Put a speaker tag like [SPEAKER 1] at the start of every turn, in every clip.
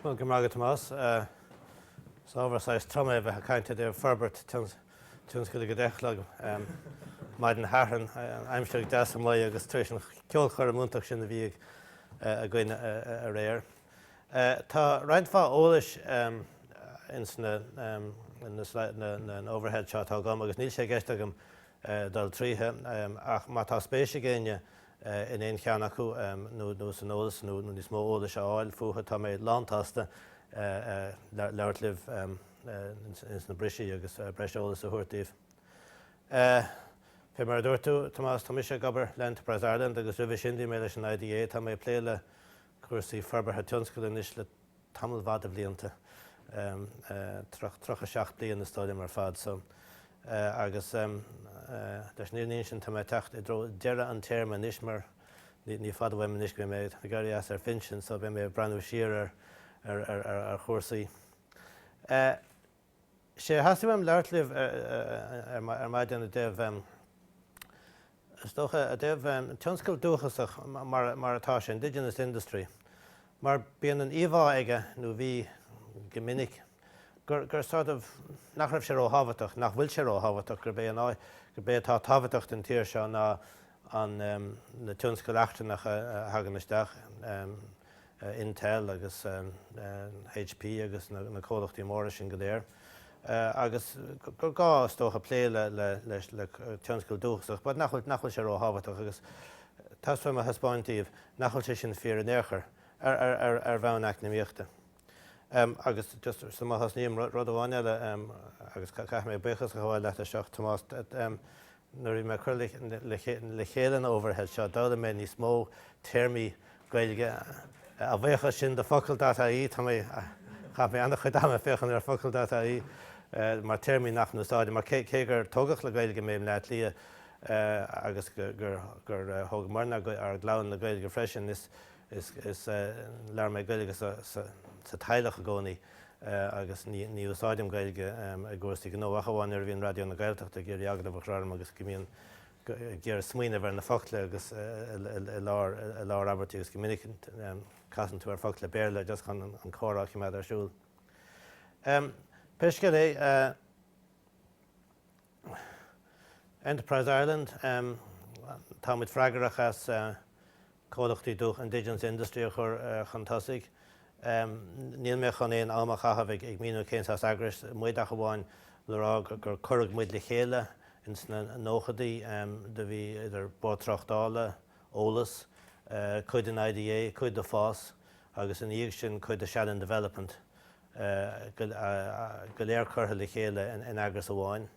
[SPEAKER 1] Go raibh maith agat Tomás. Is ábhar saghas trom é a bheith ag caint i dtaobh forbairt tionscail go deich a chlog maidin Shathairn, aimsir deas mar atá agus tar éis an cheolchoirm iontach sin a bhí againn aréir. Tá roinnt mhaith eolais ins na overhead seo atá agam agus níl sé i gceist agam dul tríothu ach má tá spéis ag éinne in aon cheann acu nó san eolas nó níos mó eolais a fháil fúthu tá mé lántsásta labhairt libh ins na briseadha agus breis eolais a thabhairt daoibh. Fé mar a dúirt tú, Tomás, tá mise ag obair le Enterprise Ireland agus roimhe sin bhí mé leis an IDA. Tá mé ag plé le cúrsaí forbartha tionscail anois le tamall maith de bhlianta, tríocha seacht bliain is dóigh liom ar fad. So agus leis an fhírinne a insint tá mé ag teacht i dtreo deireadh an téarma anois mar ní fada uaim anois go mbeidh mé ag éirí as ar pinsean so beidh mé ag breathnú siar ar chúrsaí. Sea, theastaigh uaim labhairt libh ar maidin i dtaobh, is dócha, i dtaobh tionscal dúchasach mar atá sé, indigenous industry, mar bíonn an íomhá aige, nó bhí go minic, gur sort of, nach raibh sé ró-thábhachtach, nach bhfuil sé ró-thábhachtach, gurb é an áit, gurb é atá tábhachtach don tír seo ná an, na tionscail eachtrannacha a thagann isteach. Intel agus HP agus na comhlachtaí móra sin go léir agus gur gá is dócha plé le tionscal dúchasach but nach bhfuil sé ró-thábhachtach agus tá súil agam a thaispeáint daoibh nach bhfuil sé sin fíor in aon chor ar bhonn eacnamaíochta. Agus just sula thosnaím, rud amháin eile agus caithfidh mé buíochas a ghabháil leat leis seo Tomás, Nuair a bhí mé ag cur le chéile an overhead seo, d'fhoghlaim mé níos mó téarmaí Gaeilge. A bhuíochas sin do Focal dot IE, tá mé, chaith mé an-chuid ama ag féachaint ar Focal dot IE mar téarmaí nach n-úsáidim, mar cé gur tógadh le Gaeilge mé i mBleá Cliath agus gur thóg Muireann ár gclann le Gaeilge freisin, is Is labhair mé Gaeilge sa teaghlach i gcónaí agus ní úsáidim Gaeilge i gcúrsaí gnó ach amháin nuair a bhíonn Raidió na Gaeltachta ag iarraidh agallamh a chur orm agus go mbíonn ag iarraidh smaoineamh ar na focla agus i lár abairtí agus go minic casann tú ar focla Béarla just chun an comhrá a choimeád ar siúl. Pé scéal é, Enterprise Ireland, tá muid freagrach as comhlachtaí dúchais, indigenous industry a chur chun tosaigh. Níl mé chun aon am a chaitheamh ag míniú cén saghas eagrais muid ach amháin le rá gur cuireadh muid le chéile in sna nóchadaí. Do bhí idir Bord Tráchtála, Eolas, cuid den IDA, cuid do FÁS agus ina dhiaidh sin cuid do Shannon Development. go léir curtha le chéile in eagras amháin.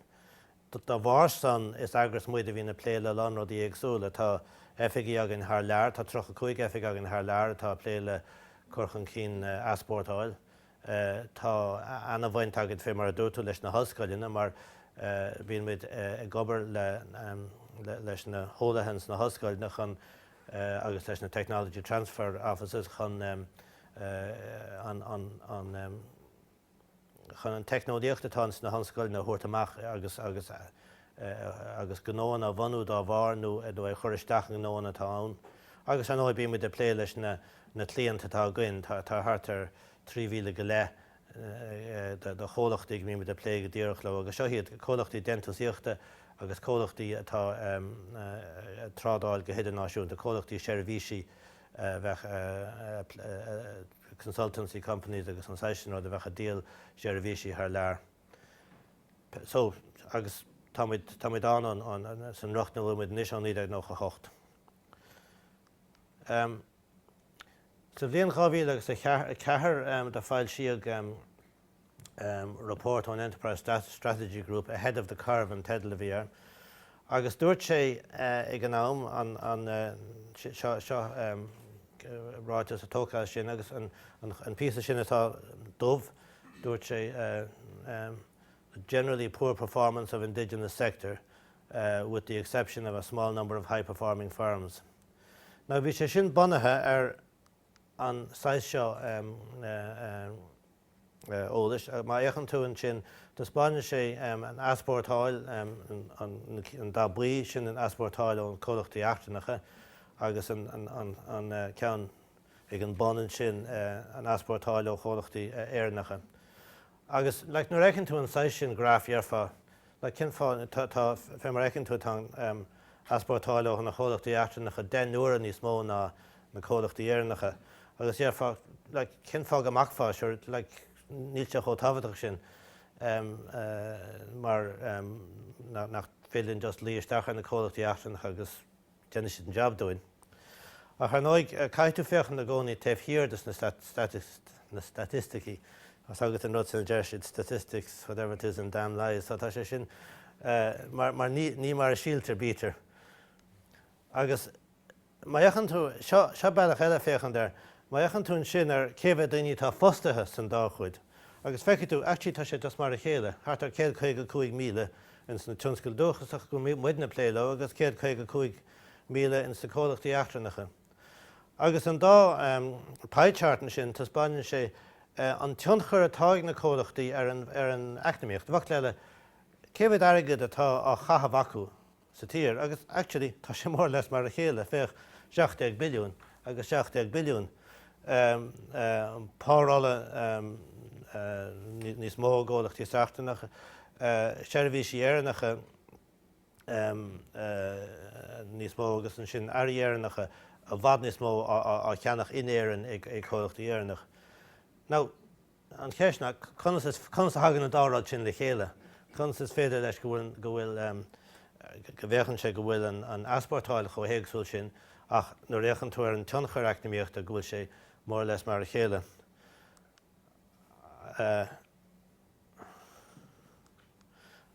[SPEAKER 1] Dá bharr san is eagras muid a bhíonn ag plé le a lán rudaí éagsúla. Tá oifigí againn thar lear, tá 35 oifig againn thar lear atá ag plé le cur chun cinn easpórtáil. Tá ana-bhaint againn fé mar a dúirt tú leis na hollscoileanna mar bíonn muid ag obair leis na heolaithe ins na hollscoileanna chun agus leis na Technology Transfer Offices chun an teicneolaíocht atá sna hollscoileanna a thabhairt amach agus gnóanna a bhunú dá bharr nó í a chur isteach i ngnóanna atá ann. Agus ar ndóigh bíonn muid ag plé leis na cliaint atá againn, tá thart ar 3,000 go leith do chomhlachtaí go mbímid ag plé go díreach leo agus seo iad, comhlachtaí déantúsaíochta agus comhlachtaí atá ag trádáil go hidirnáisiúnta, comhlachtaí seirbhísí bheadh consultancy companies agus an saghas sin rud a bheadh ag díol seirbhísí thar lear. So agus tá muid ann san riocht ina bhfuil muid anois ó 1998. Sa bhliain 2004 do foilsíodh report ón Enterprise Strategy Group Ahead of the Curve an teideal a bhí air agus dúirt sé ag an am an, seo ráiteas tógtha as sin agus an píosa sin atá dubh, dúirt sé generally poor performance of indigenous sector with the exception of a small number of high performing firms. Now bhí sé sin bunaithe ar an saghas seo eolais. Má fhéachann tú ansin, taispeáineann sé an easpórtáil, an dath buí, sin an easpórtáil ó na comhlachtaí eachtrannacha agus an ceann ag an bun ansin an easpórtáil ó chomhlachtaí Éireannacha. Agus like nuair a fheiceann tú an saghas sin graif déarfá Now cén fáth, tá, fé mar a fheiceann tú, tá an easpórtáil ó na comhlachtaí eachtrannacha deich n-uaire níos mó ná na comhlachtaí Éireannacha. Agus déarfá, like, cén fáth go mbacfá, sure, like, níl siad chomh tábhachtach sin mar nach féidir linn just luí isteach ar na comhlachtaí eachtrannacha agus, déanann siad an jab dúinn. Ach ar ndóigh, caithfidh tú féachaint i gcónaí taobh thiar de na staitisticí agus agat an rud sin a deir siad, statistics, whatever it is, and damn lies, so tá sé sin mar, ní mar a shíltear bítear. Agus má fhéachann tú, seo bealach eile le féachaint air, má fhéachann tú ansin ar cé mhéad daoine atá fostaithe san dá chuid agus feicfidh tú, actually tá sé just mar a chéile, thart ar 155,000, ins na tionscail dúchasacha go mbíonn muidne ag plé leo agus 155,000 ins na comhlachtaí eachtrannacha. Agus an dá pie chart ansin taispeáineann sé an tionchar atá ag na comhlachtaí ar an ar an eacnamaíocht. I bhfocla eile, cé mhéad airgead atá á chaitheamh acu sa tír agus actually tá sé more or less mar a chéile, féach 17 billiúin agus 17 billiúin. párolla níos mó i gcomhlachtaí eachtrannacha, seirbhísí Éireannacha níos mó agus ansin earraí Éireannacha i bhfad níos mó á cheannach in Éirinn ag comhlachtaí Éireannacha. Now, An cheist ná conas a thagann an dá rud sin le chéile? Conas is féidir leis go bhfuil, go bhfuil ehm, go bhféachann sé go bhfuil an, an easpórtáil chomh héagsúil sin ach nuair a fhéachann tú ar an tionchar eacnamaíochta go bhfuil sé more or less mar a chéile. Eh,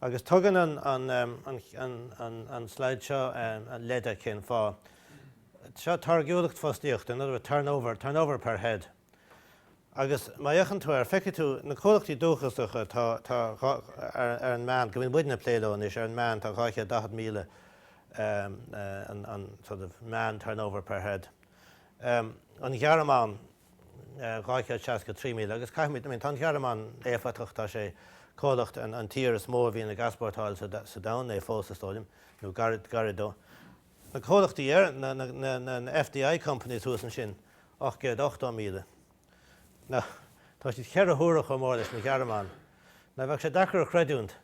[SPEAKER 1] agus tugann an, an, ehm, an, an, an, an slide seo ehm, an leid cén fáth. Seo táirgiúlacht fostaíochta, in other words, turnover, turnover per head. Agus má fhéachann tú ar, feicfidh tú na comhlachtaí dúchasacha tá, tá dhá, ar an meán, go mbíonn muidne ag plé leo anois, ar an meán tá 240,000 an, an sort of meán turnover per head. An Ghearmáin 263,000 agus caithfimid, I mean tá an Ghearmáin éifeachtach, tá sé comhlacht, an, an tír is mó a bhíonn ag easpórtáil sa, sa domhan é fós is dóigh liom, nó gairid, gairid dó. na comhlachtaí ar, na, na, na, na, na FDI companies thuas ansin, ocht gcéad ochtó míle. Na, tá siad ceithre huaire chomh mór leis an nGearmáin. Na, bheadh sé deacair a chreidiúint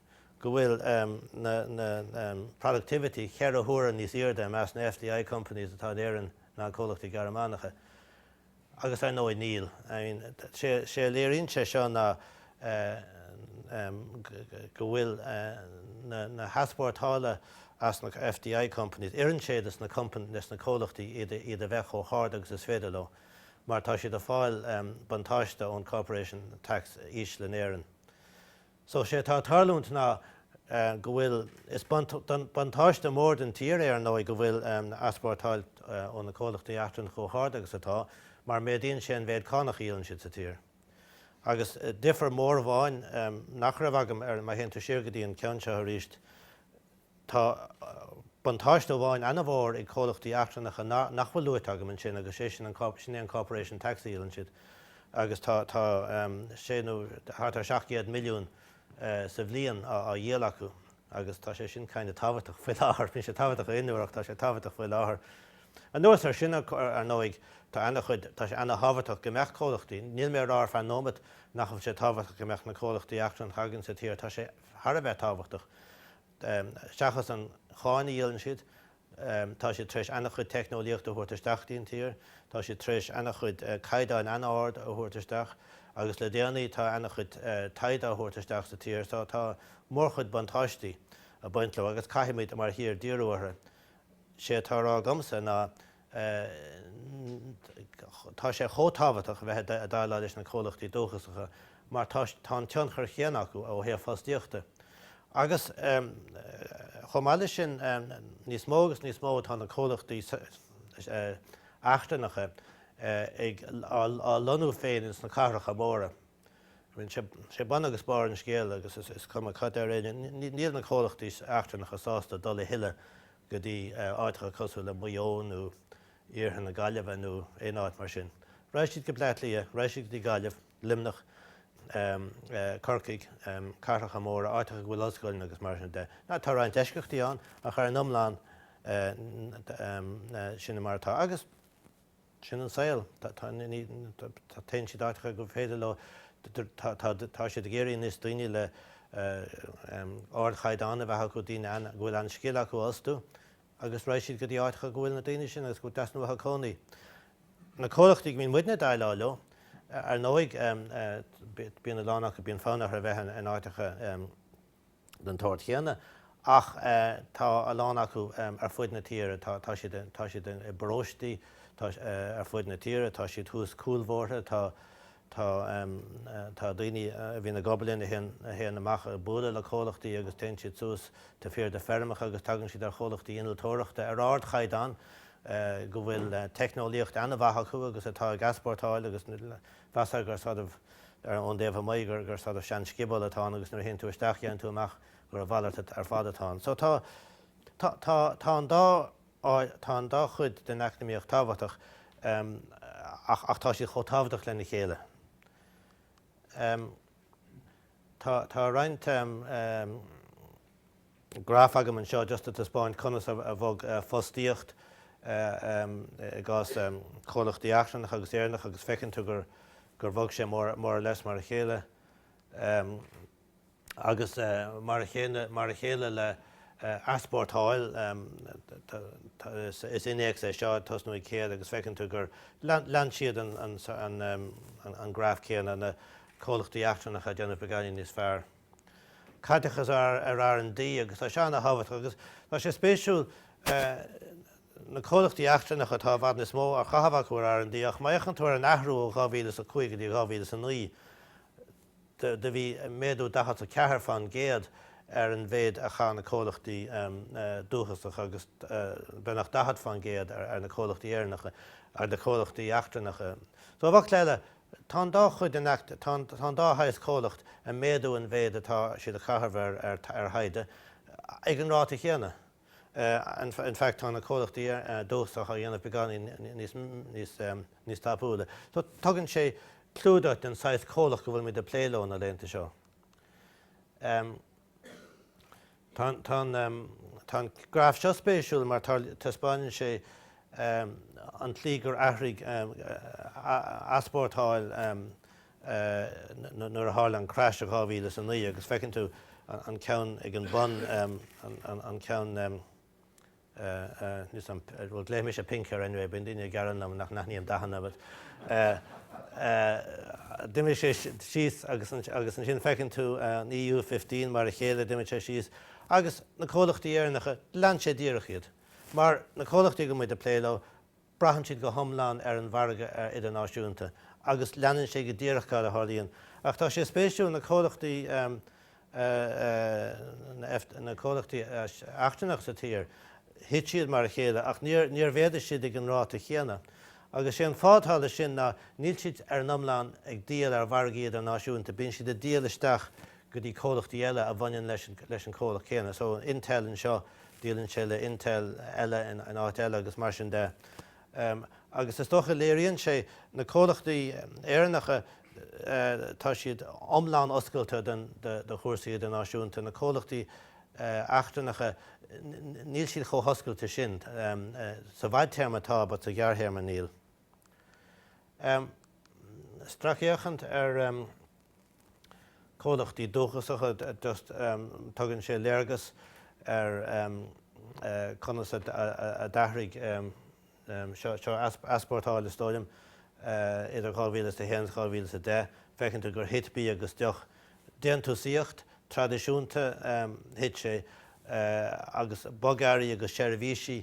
[SPEAKER 1] go bhfuil, em, na, na, na, em, productivity ceithre huaire níos airde i measc na FDI companies atá in Éirinn ná comhlachtaí Gearmánacha. agus ar ndóigh níl. I mean sé a léiríonn sé seo ná go bhfuil na heaspórtálacha as na FDI companies, oireann sé leis na companies, leis na comhlachtaí iad a bheith chomh hard agus is féidir leo mar tá siad ag fáil buntáiste ón corporation tax íseal in Éirinn. So sé atá ag tarlúint ná go bhfuil, is buntáiste mór don tír é ar ndóigh go bhfuil easpórtáil ó na comhlachtaí eachtrannacha chomh hard agus atá mar méadaíonn sé an méid cánach a íocann siad sa tír. Agus difear mór amháin nach raibh agam ar, má théann tú siar go dtí an ceann seo arís, Tá buntáiste amháin an-mhór ag comhlachtaí eachtrannacha nach bhfuil luaite agam ansin agus sé sin an, sin é an corporation tax a dhíolann siad agus tá, tá 6 nó thart ar 700 milliún sa bhliain á dhíol acu agus tá sé sin kinda tábhachtach faoi láthair. bhí sé tábhachtach i gcónaí ach tá sé tábhachtach faoi láthair. Anuas ar sin ar ndóigh tá an-chuid, tá sé an-thábhachtach go mbeadh comhlachtaí, níl mé a rá ar feadh nóimeat nach bhfuil sé tábhachtach go mbeadh na comhlachtaí eachtrannacha againn sa tír, tá sé, thar a bheith tábhachtach. Seachas an cháin a dhíolann siad, tá siad tar éis an-chuid teicneolaíochta a thabhairt isteach dtí'n tír, tá siad tar éis an-chuid caighdeáin an-ard a thabhairt isteach agus le déanaí tá an-chuid taighde á thabhairt isteach sa tír so tá mórchuid buntáistí a' baint leo agus caithfimid mar thír díriú orthu. 'Sé atá a rá agamsa ná Tá sé chomh tábhachtach a bheith ag déileáil leis na comhlachtaí dúchasacha mar tá an tionchar chéanna acu ó thaobh fostaíochta agus chomh maith leis sin níos mó agus níos mó atá na comhlachtaí eachtrannacha ag á lonnú féin ins na cathracha móra. Sé bun agus barr an scéil agus is cuma cad ar éigean níl na comhlachtaí eachtrannacha sásta dul a thuilleadh go dtí áiteacha cosúil le Maigh Eo nó iarthar na Gaillimhe nó aon áit mar sin. Raghaidh siad go Bleá Cliath, raghaidh siad go dtí Gaillimh, Luimneach, Corcaigh, cathracha móra, áiteacha go bhfuil ollscoileanna agus mar sin de. Tá roinnt eisceachtaí ann ach ar an iomlán sin mar atá. Sin an saol. Téann siad áiteacha gur féidir leo, tá siad ag iarraidh níos daoine le ardchaighdeán a bheith acu, daoine go bhfuil an-scil acu a fhostú agus raghaidh siad go dtí áiteacha go bhfuil na daoine sin agus go dteastaíonn uathu cónaí. Na comhlachtaí go mbíonn muidne ag déileáil leo, ar ndóigh, bíonn a lán acu, bíonn fonn orthu a bheith in áiteacha, den tsórt chéanna ach tá a lán acu ar fud na tíre. Tá siad tá siad i bparóistí ar fud na tíre, tá siad thuas cúlbhóithre, tá tá tá daoine a bhíonn ag obair linn a théann a théann amach ag bualadh le comhlachtaí agus téann siad suas de fíor de feirmeacha agus tagann siad ar chomhlachtaí innealtóireachta ar ardchaighdeán go bhfuil teicneolaíocht an-mhaith acu agus atá ag easpórtáil agus mheasfá gur sort of gur ón dtaobh amuigh gur gur sort of sean scioból atá ann agus nuair a théann tú isteach déanann tú amach gur a mhalairt ar fad atá ann. So tá tá tá tá an dá tá an dá chuid den eacnamaíocht tábhachtach em ach ach tá siad chomh tábhachtach lena chéile. Em tá tá roinnt em graf agam anseo just a taispeáint conas a bhog fostaíocht i gcás comhlachtaí eachtrannacha agus Éireannacha agus feiceann tú gur bhog sé more or less mar a chéile agus mar a chéile le easpórtáil is innéacs é seo ag tosnú ag 100 agus feiceann tú gur lean siad an graf céanna na comhlachtaí eachtrannacha ag déanamh beagáinín níos fearr. caiteachas ar R and D agus tá sé an-tábhachtach agus tá sé spéisiúil na comhlachtaí eachtrannacha tá i bhfad níos mó á chaitheamh acu ar R and D ach má fhéachann tú ar an athrú ó 2005 go dtí 2009 do bhí méadú 44% ar an mhéid a chaith na comhlachtaí dúchasacha agus beagnach 40% ar na comhlachtaí Éireannacha ar na comhlachtaí eachtrannacha so i bhfocail eile Tá an dá chuid in Tá an dá shaghas comhlacht ag méadú an mhéid atá siad ag caitheamh ar thaighde ag an ráta chéanna. In fact tá na comhlachtaí dúchasach á dhéanamh beagáinín níos tapúla. So tugann sé clue duit den saghas comhlacht go bhfuilimid ag plé leo na laethanta seo. Tá an graf seo spéisiúil mar taispeáineann sé an tslí gur athraigh easpórtáil nuair a tharla an crash i 2009 agus feiceann tú an ceann ag an bun an ceann Is an, bhuel glaofaidh mise Pink air anyway, bíonn daoine ag gearán liom nach n-aithním dathanna, but d'imigh sé síos agus ansin feiceann tú an EU15 mar a chéile, d'imigh sé síos agus na comhlachtaí Éireannacha, lean sé díreach iad mar na comhlachtaí go mbímid ag plé leo. braitheann siad go hiomlán ar an mhargadh idirnáisiúnta agus leanann sé go díreach cad a tharlaíonn. Ach tá sé spéisiúil, na comhlachtaí, na comhlachtaí eachtrannach sa tír, thit siad mar a chéile ach níor mhéadaigh siad ag an ráta chéanna. Agus sé an fáth atá leis sin ná níl siad ar an iomlán ag díol ar mhargaí idirnáisiúnta, bíonn siad ag díol isteach go dtí comhlachtaí eile a bhaineann leis an comhlacht céanna. So Intel anseo, díolann sé le Intel eile in áit eile agus mar sin de. Agus is dócha léiríonn sé na comhlachtaí Éireannacha tá siad iomlán oscailte do chúrsaí idirnáisiúnta. Na comhlachtaí eachtrannacha níl siad chomh hoscailte sin. Sa bhfadtéarma tá but sa ghearrthéarma níl. stracfhéachaint ar comhlachtaí dúchasacha just tugann sé léargas ar conas a d'athraigh seo easpórtáil is dóigh liom idir 2000 is 1 is 2000 is 10 feiceann tú gur thit bia agus deoch déantúsaíocht traidisiúnta thit sé agus bogearraí agus seirbhísí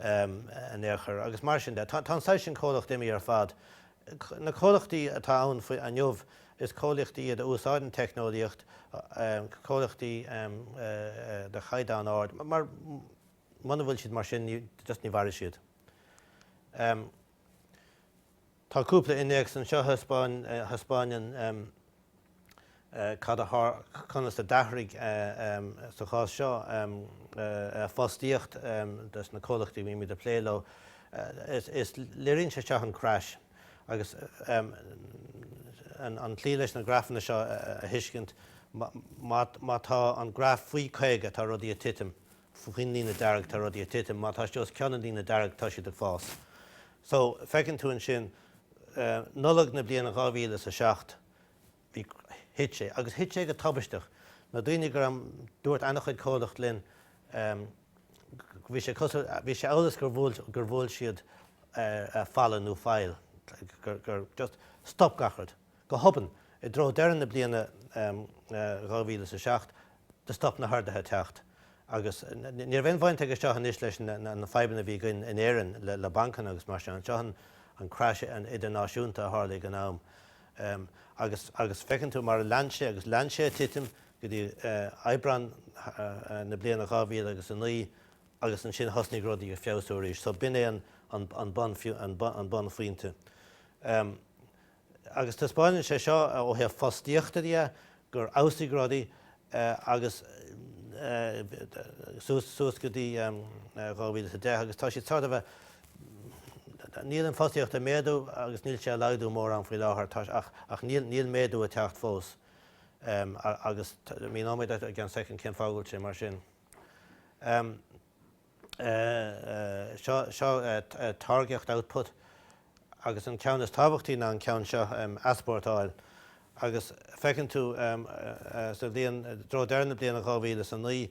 [SPEAKER 1] innealtóireacht agus mar sin de. Tá an saghas sin comhlacht imithe ar fad. Na comhlachtaí atá ann faoi inniu is comhlachtaí iad a úsáideann teicneolaíocht, comhlachtaí de chaighdeán ard mar muna bhfuil siad mar sin just ní mhairfidh siad. Tá cúpla innéacs anseo a thaispeáineann cad a tharla conas a d'athraigh, sa chás seo, fostaíocht dos na comhlachtaí a bhímid ag plé leo. Is léiríonn sé seo an crash agus an tslí leis na grafanna seo a thuiscint, má tá an graf faoi 50 tá rudaí ag titim faoin líne dearg tá rudaí ag titim, má tá siad os cionn an líne dearg tá siad ag fás. So feiceann tú ansin Nollaig na bliana dhá mhíle is a seacht bhí, thit sé agus thit sé go tubaisteach. Na daoine gur, dúirt ana-chuid comhlacht linn, bhí sé amhail is gur bhuail siad falla nó faill, gur just stop gach rud. Go hobann, i dtreo deireadh na bliana 2007, do stop na hordaithe teacht agus ní raibh aon bhaint aige seo anois leis na fadhbanna a bhí againn in Éirinn le bancanna agus mar sin. Seo é an crash idirnáisiúnta a tharla ag an am agus agus feiceann tú mar a lean sé agus lean sé ag titim go dtí Aibreán na bliana 2000 agus 09 agus ansin thosnaigh rudaí ag feabhsú arís. So b'in é an bunphointe. agus taispeánann sé seo ó thaobh fostaíochta de gur fheabhsaigh rudaí agus suas go dtí 2010 agus tá siad sort of níl an fostaíocht ag méadú agus níl sé ag laghdú mórán faoi láthair ach níl méadú ag teacht fós agus míneoidh mé i gceann soicind cén fáth go bhfuil sé mar sin. seo táirgeacht, output, agus an ceann is tábhachtaí ná an ceann seo, easpórtáil, agus feiceann tú sa bhliain, i dtreo deireadh na bliana 2009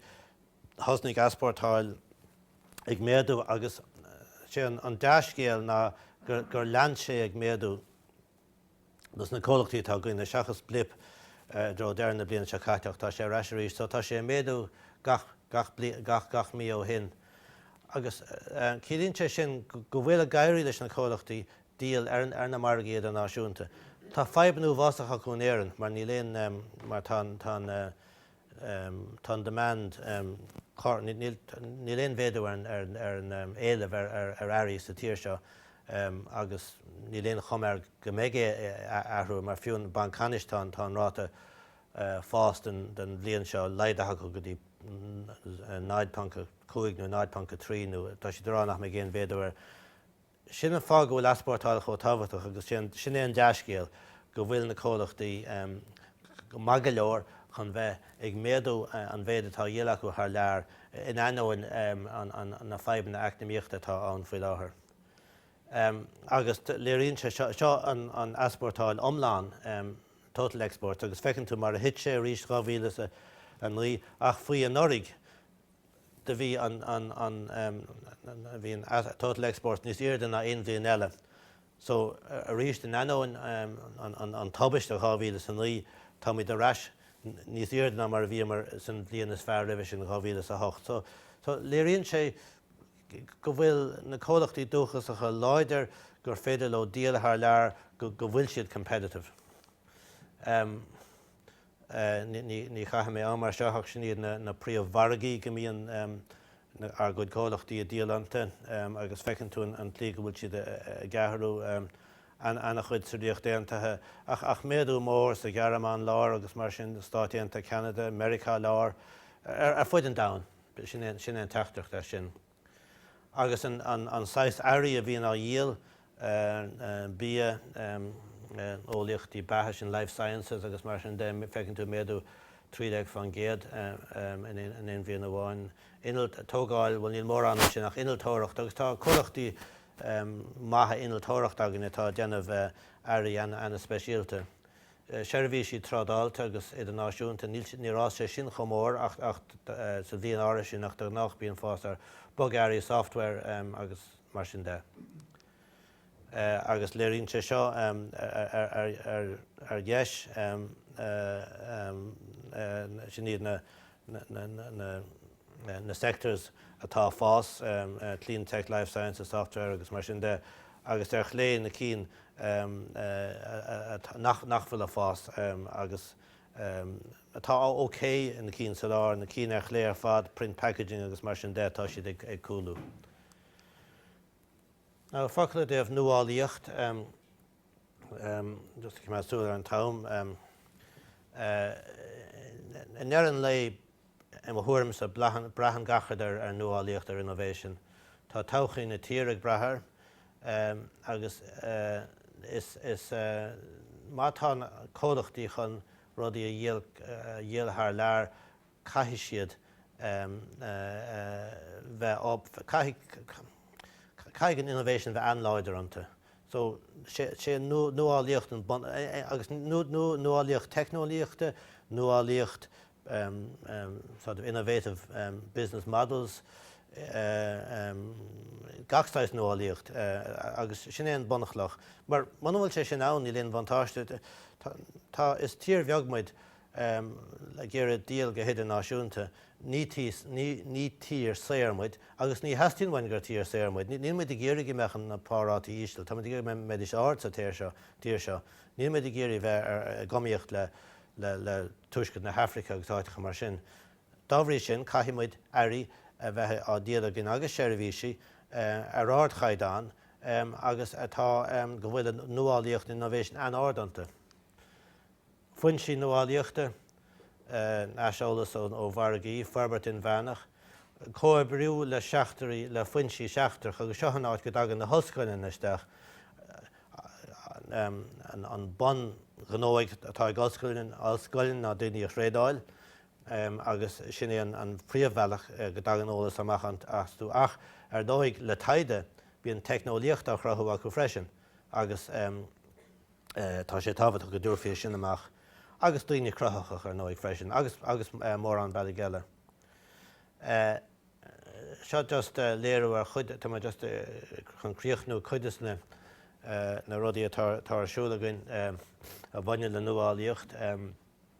[SPEAKER 1] thosnaigh easpórtáil ag méadú agus sé an dea-scéal ná gur lean sé ag méadú. dos na comhlachtaí atá againne, seachas blip i dtreo deireadh na bliana seo caite ach tá sé ar ais arís so tá sé ag méadú gach gach gach gach mí ó shin agus ciallaíonn sé sin go bhfuil ag éirí leis na comhlachtaí díol ar ar na margaí idirnáisiúnta. Tá fadhbanna uafásacha acu in Éirinn mar níl aon mar tá an tá an tá an demand níl aon mhéadú ar an éileamh ar earraí sa tír seo agus níl aon chuma air go mbeidh sé ag athrú mar fiú an Banc Ceannais tá an ráta fáis don bhliain seo laghdaithe acu go dtí 0.5 nó 0.3 nó tá siad ag rá nach mbeidh aon mhéadú ar Sin an fáth go bhfuil easpórtáil chomh tábhachtach agus sin é an dea-scéal go bhfuil na comhlachtaí go maith go leor chun bheith ag méadú an mhéid atá á dhíol acu thar lear in ainneoin na fadhbanna eacnamaíochta atá ann faoi láthair agus léiríonn sé seo an easpórtáil iomlán, total exports, agus feiceann tú mar a thit sé arís 2009 ach faoi anuraidh do bhí an bhí an total exports níos airde ná aon bhliain eile so arís in ainneoin an tubaiste in 2009 táimid ar ais níos airde ná mar a bhíomar san bhliain is fearr roimhe sin 2008 so so léiríonn sé go bhfuil na comhlachtaí dúchasacha láidir gur féidir leo díol thar lear go bhfuil siad competitive. Ní chaithfidh mé am air seo ach sin iad na príomh-mhargaí go mbíonn ár gcuid comhlachtaí ag díol iontu agus feiceann tú an tslí go bhfuil siad ag athrú. Ana-chuid sa Ríocht Aontaithe ach méadú mór sa Ghearmáin lár agus mar sin, Stáit Aontaithe, Ceanada, Meiriceá Láir, ar fuid an domhain. Sin é an teachtaireacht as sin. agus an saghas earraí a bhíonn á dhíol, bia, eolaíochtaí beatha, sin life sciences agus mar sin de, feiceann tú méadú trí déag faoin gcéad in aon bhliain amháin. Innilt, tógáil, bhuel níl mórán ansin ach innealtóireacht agus tá comhlachtaí maithe innealtóireachta againn atá ag déanamh earraí ana-speisialta. seirbhísí trádáilte go hidirnáisiúnta, níl, níor fhás sé sin chomh mór ach, ach sa bhliain áirithe sin ach de ghnáth bíonn fás ar bogearraí, software agus mar sin de. Agus léiríonn sé seo ar dheis, sin iad na, na sectors atá ag fás, clean tech, life sciences, software agus mar sin de, agus ar chlé na cinn nach bhfuil ag fás agus atá ok, na cinn sa lár, na cinn ar chlé ar fad, print, packaging agus mar sin de, tá siad ag cúlú. Now, focal i dtaobh nuálaíocht. Just ag coimeád súil ar an t-am, i ndeireadh an lae i mo thuairimse braitheann gach rud ar nuálaíocht, ar innovation. Tá todhchaí na tíre ag brath air agus is má tá na comhlachtaí chun rudaí a dhíol thar lear, caithfidh siad bheith caithfidh caithfidh an innovation bheith an-láidir iontu so sé sé nuálaíocht an bun agus nuálaíocht teicneolaíochta nuálaíocht sort of innovative business models gach saghas nuálaíocht agus sin é an bunchloch mar muna bhfuil sé sin ann níl aon bhuntáiste tá is tír bheag muid tá ag iarraidh díol go hidirnáisiúnta, ní tír, ní, ní tír saor muid agus ní theastaíonn uainn gur tír saor muid, ní, níl muid ag iarraidh go mbeadh na pá-rátaí íseal, tá muid ag iarraidh go mbeidís ard sa tír seo, tír seo, níl muid ag iarraidh bheith ar, i gcoimhlíocht le, le, le Tuaisceart na hAifrice agus áiteacha mar sin. Dá bhrí sin caithfidh muid earraí a bheith á díol againn agus seirbhísí ar ardchaighdeán agus atá, go bhfuil an nuálaíocht, innovation an-ard iontu. foinsí nuálaíochta, aiseolas ó mhargaí, forbairt inmheánach, comhoibriú le seachtraí, le foinsí seachtracha agus seo an áit go dtagann na hollscoileanna isteach, an bunghnó atá ag ollscoil ná daoine a thraenáil agus sin é an príomhbhealach go dtagann eolas amach astu ach ar ndóigh le taighde bíonn teicneolaíocht á chruthú acu freisin agus Tá sé tábhachtach go dtabharfaí é sin amach agus daoine cruthaitheacha ar ndóigh freisin agus agus mórán bealaigh eile. Seo just léiriú ar chuid de just chun críochnú cuid des na rudaí atá ar siúl againn a bhaineann le nuálaíocht.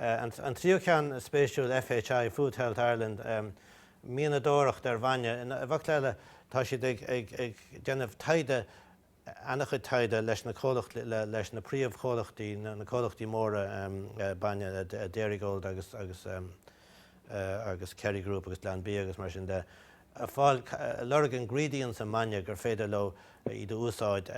[SPEAKER 1] An tríú ceann spéisiúil FHI, Food Health Ireland, mianadóireacht ar bhainne. I bhfocla eile tá siad ag déanamh taighde, ana-chuid taighde leis na comhlacht, leis na príomhchomhlachtaí, na comhlachtaí móra bainne, Dairygold agus Kerry Group agus Glanbia agus mar sin de. a fáil. Lorg ingredients i mbainne gur féidir leo iad a úsáid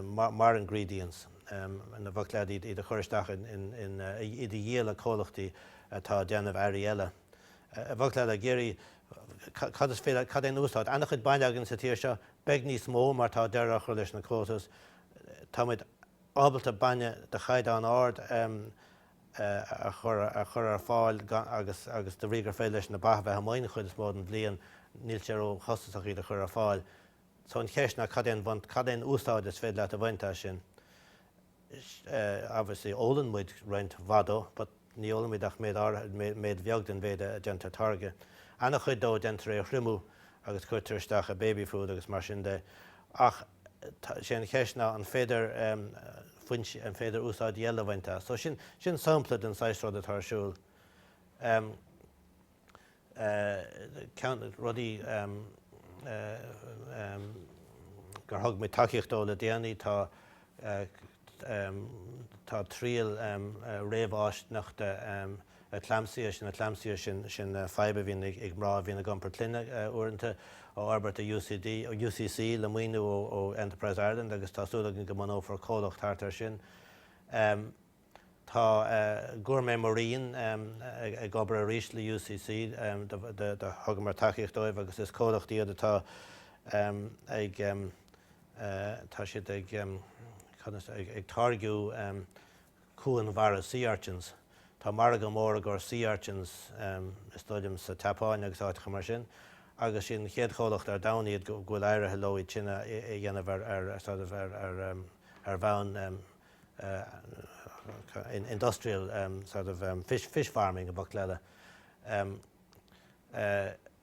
[SPEAKER 1] mar ingredients ná bac le iad a chur isteach in iad a dhíol le comhlachtaí atá ag déanamh earraí eile. Bhfuil siad ag iarraidh cad is féidir cad é an úsáid an-chuid bainne againn sa tír seo. Beidh níos mó mar tá deireadh á chur leis na quotas. Táimid ábalta bainne de chaighdeán ard a a chur ar fáil agus de bhrí gur féidir leis na ba a bheith amuigh an chuid is mó den bhliain níl sé ró chostasach iad a chur ar fáil. So an cheist ná cad é an bhaint, cad é an úsáid is féidir leat a bhaint as sin. Obviously ólann muid roinnt mhaith de but ní ólann muid ach méid áirithe, méid bheag den mhéid a déantar táirgeadh. Ana chuid de déantar é a thriomú agus cuirtear isteach i baby food agus mar sin de ach, Tá, sé an cheist ná an féidir foinse, an féidir úsáid eile a bhaint as. So sin, sin sampla den saghas rud atá ar siúl. Um, uh, ceann rudaí um, uh, um, gur thug mé tacaíocht dó le déanaí tá uh, um, tá trial um, uh, réamhfháistineach de um, eclampsia, sin eclampsia, sin fadhb a bhíonn ag mná a bhíonn ag iompar clainne uaireanta, á fhorbairt ag UCC le maoiniú ó ó Enterprise Ireland agus tá súil againn go mbunófar comhlacht thart air sin. Ehm tá eh Gourmet Marine ehm ag obair arís le UCC ehm do do do thugamar tacaíocht dóibh agus is comhlacht iad atá ehm ag ehm eh tá siad ag ehm cad as ag ag táirgiú ehm Cuan Mhara Sea Urchins. Tá margadh mór i gcomhair Sea Urchins is dóigh liom sa tSeapáin agus áiteacha mar sin agus siad an chéad chomhlacht ar domhan iad go bhfuil éirithe leo iad sin a dhéanamh ar sort of ar bhonn industrial sort of fish farming i bhfocla eile.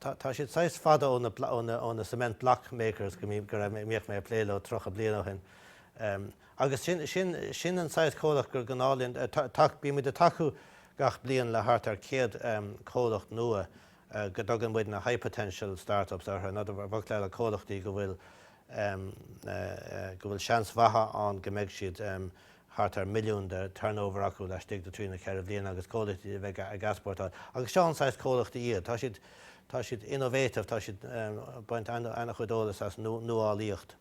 [SPEAKER 1] Tá siad saghas fada ó na cement block makers go mbíodh mé ag plé leo tríocha bliain ó shin agus sin an saghas comhlacht gur gnách linn, bíonn muid ag tacú gach bliain le thart ar 100 comhlacht nua go dtugann muid na high potential start-ups orthu, i bhfocla eile comhlachtaí go bhfuil seans mhaith ann go mbeidh siad thart ar milliún de turnover acu laistigh de trí nó ceithre bhliana agus comhlachtaí a bheidh ag easpórtáil agus seo an saghas comhlachtaí iad. Tá siad tá siad innovative tá siad ag baint ana chuid eolas as nuálaíocht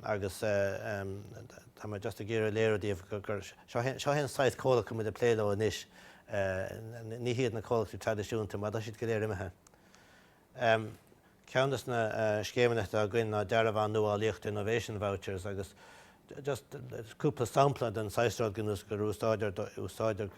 [SPEAKER 1] agus tá mé just ag iarraidh a léiriú daoibh gur seo é an saghas comhlacht go bhfuil muid ag plé leo anois. Ní hiad na comhlachtaí traidisiúnta mar tá siad go léir imithe. Ceann des na scéimeanna atá againn ná Dearbhán Nuálaíochta, Innovation Vouchers, agus just cúpla sampla den saghas rud gnós gur úsáidtear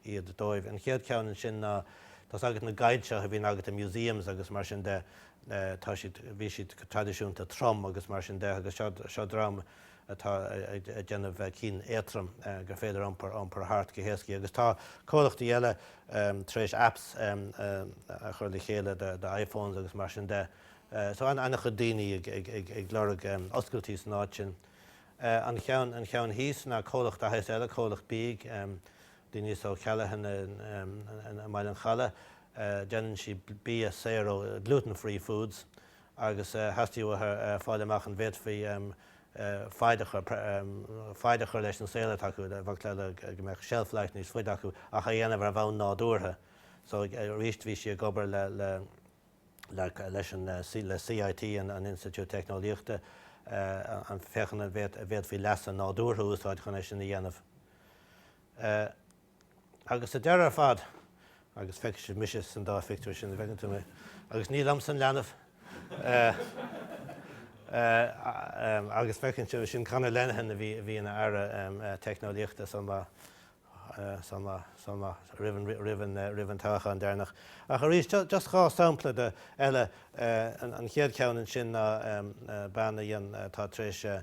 [SPEAKER 1] iad dóibh. An chéad ceann ansin ná tá's agat na guides seo a bhíonn agat i museums agus mar sin de, tá siad, bhí siad go traidisiúnta trom agus mar sin de agus seo dream, atá ag déanamh cinn éatroim gur féidir iompar thart go héascaí agus tá comhlachtaí eile tar éis apps a chur le chéile do iPhones agus mar sin de so an-chuid daoine ag lorg oscailtí san áit sin. An cheann thíos ná comhlacht AS eile, comhlacht beag, Denise O Callaghan i mBaile an Chollaigh, déanann sí bia saor ó gluten-free foods agus theastaigh uathu fáil amach an bhféadfaí faid a chur leis an saol atá acu, bheadh le go mbeadh shelf life níos faide acu ach á dhéanamh ar bhonn nádúrtha. So arís bhí sí ag obair le leis an le CIT, an Institiúid Teicneolaíochta, ag féachaint an bhféadfaí leasa nádúrtha a úsáid chun é sin a dhéanamh. Agus sa deireadh ar fad, agus feicfidh sibh mise san dá phictiúr sin, an bhfeiceann tú mé, agus ní liomsa an leanbh, agus feiceann sibh sin Conor Lenihan a bhí a bhí ina Aire Teicneolaíochta san lá, san lá, san lá, roimh an, roimh an, roimh an toghachán deireanach. Ach arís, just dhá sampla de, eile, an chéad cheann ansin ná bean a dhéan, atá tar éis,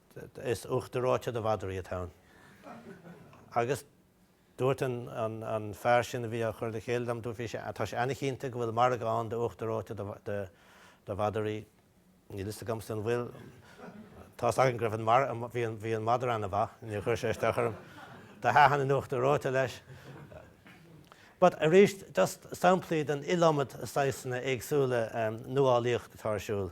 [SPEAKER 1] Is uachtar reoite do mhadraí atá ann. Agus dúirt an fear sin a bhí á chur le chéile dom, dúirt, bhí sé, tá sé an-chinnte go bhfuil margadh ann d'uachtar reoite do mhadraí. Níl a fhios agamsa an bhfuil. Tá's againn go raibh an, bhí an madra an-mhaith, níor chuir sé isteach orm. Do thaitin an uachtar reoite leis. But arís, just samplaí den iliomad saghsanna éagsúla nuálaíocht atá ar siúl.